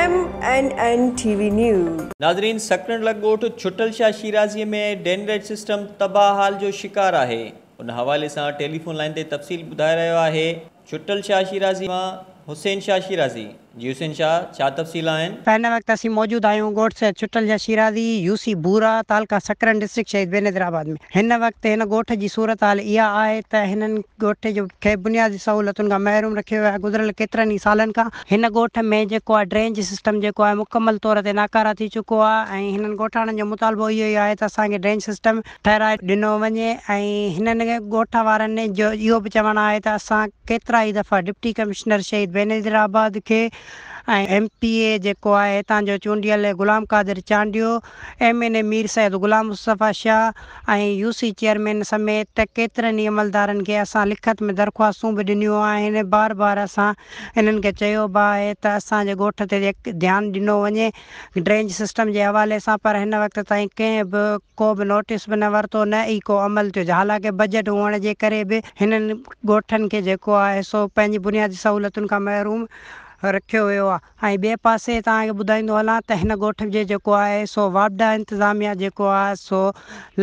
M N N T V news. ناظرين سڪرنڊ لڳ ڳوٺ ڇٽل شاهه شيرازي ۾ ڊينريج سسٽم تباهه حال جو شڪار آهي ان حوالي سان ٽيليفون لائين تي تفصيل ٻڌائي رهيو آهي ڇٽل شاهه شيرازي مان حسين شاهه شيرازي، جي حسين شاهه، ڇا تفصيل آهن؟ هن وقت اسين موجود آهيون ڳوٺ سيد ڇٽل شاهه شيرازي، يو سي بورا، تعلقه سڪرن، ڊسٽرڪٽ شهيد بينظير آباد ۾. هن وقت هن ڳوٺ جي صورتحال اها آهي ته هنن ڳوٺ جو کي بنيادي سهولتن کان محروم رکيو ويو آهي گذريل ڪيترن ئي سالن کان هن ڳوٺ ۾ جيڪو آهي ڊرينج سسٽم جيڪو آهي مڪمل طور تي ناڪاره ٿي چڪو آهي ۽ هنن ڳوٺاڻن جو مطالبو اهو ئي آهي ته اسان کي ڊرينج سسٽم ٺهرائي ڏنو وڃي ۽ هنن ڳوٺ وارن جو اهو به چوڻ آهي ته اسان ڪيترا ئي دفعا ڊپٽي ڪمشنر شهيد بينظير آباد کي ۽ ايم پي اي جيڪو آهي هتان جو چونڊيل Ghulam Qadir Chandio, M N A Mir Syed Ghulam Mustafa Shah ۽ U C chairman سميت ڪيترن ئي عملدارن کي اسان لکت ۾ درخواستون به ڏنيون آهن، بار بار اسان هنن کي چيو به آهي ته اسان جي ڳوٺ تي ڌيان ڏنو وڃي. ڊرينج سسٽم جي حوالي سان پر هن وقت تائين ڪنهن به ڪو به نوٽيس به نه ورتو نه ئي ڪو عمل ٿيو حالانڪه بجيٽ هئڻ جي ڪري به هنن ڳوٺن کي جيڪو آهي سو پنهنجي بنيادي سهولتن کان محروم رکيو ويو آهي ۽ ٻئي پاسي توهان کي ٻڌائيندو هلان ته هن ڳوٺ جي جيڪو آهي سو واپڊا انتظاميا جيڪو آهي سو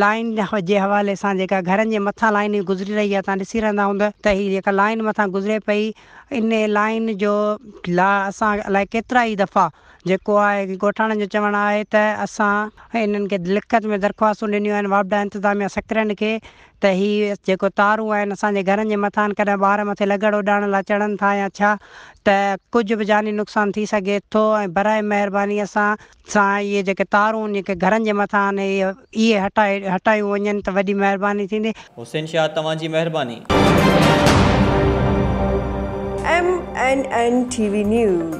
لائين جي حوالي سان جيڪا گهرن جي مٿان لائين گذري رهي آهي توهان ڏسي رهندا هوندا ته هي جيڪا لائين مٿان گذري پئي ان لائين جو لا اسان الائي ڪيترا ئي دفعا جيڪو آء ڳوٺاڻن جو چوڻ آهي ته اسان انهن کي لکت ۾ درخواستون ڏنيون آهن واپڊا انتظاميا سڪرنڊ کي ته هي جيڪو تارون آهن اسان جي گهرن جي مٿان ڪڏهن ٻار مٿي لگڙ اڏائڻ لا چڙهن ٿا يا ڇا ته ڪجهه به جاني نقصان ٿي سگهي ٿو ۽ براء مهرباني اسان سان اهي جيڪي تارون جيڪي گهرن جي مٿان آهن اهي اهي هٽايون وڃن ته وڏي مهرباني ٿيندي. حسين شاهه توهان جي مهرباني. M N N T V news.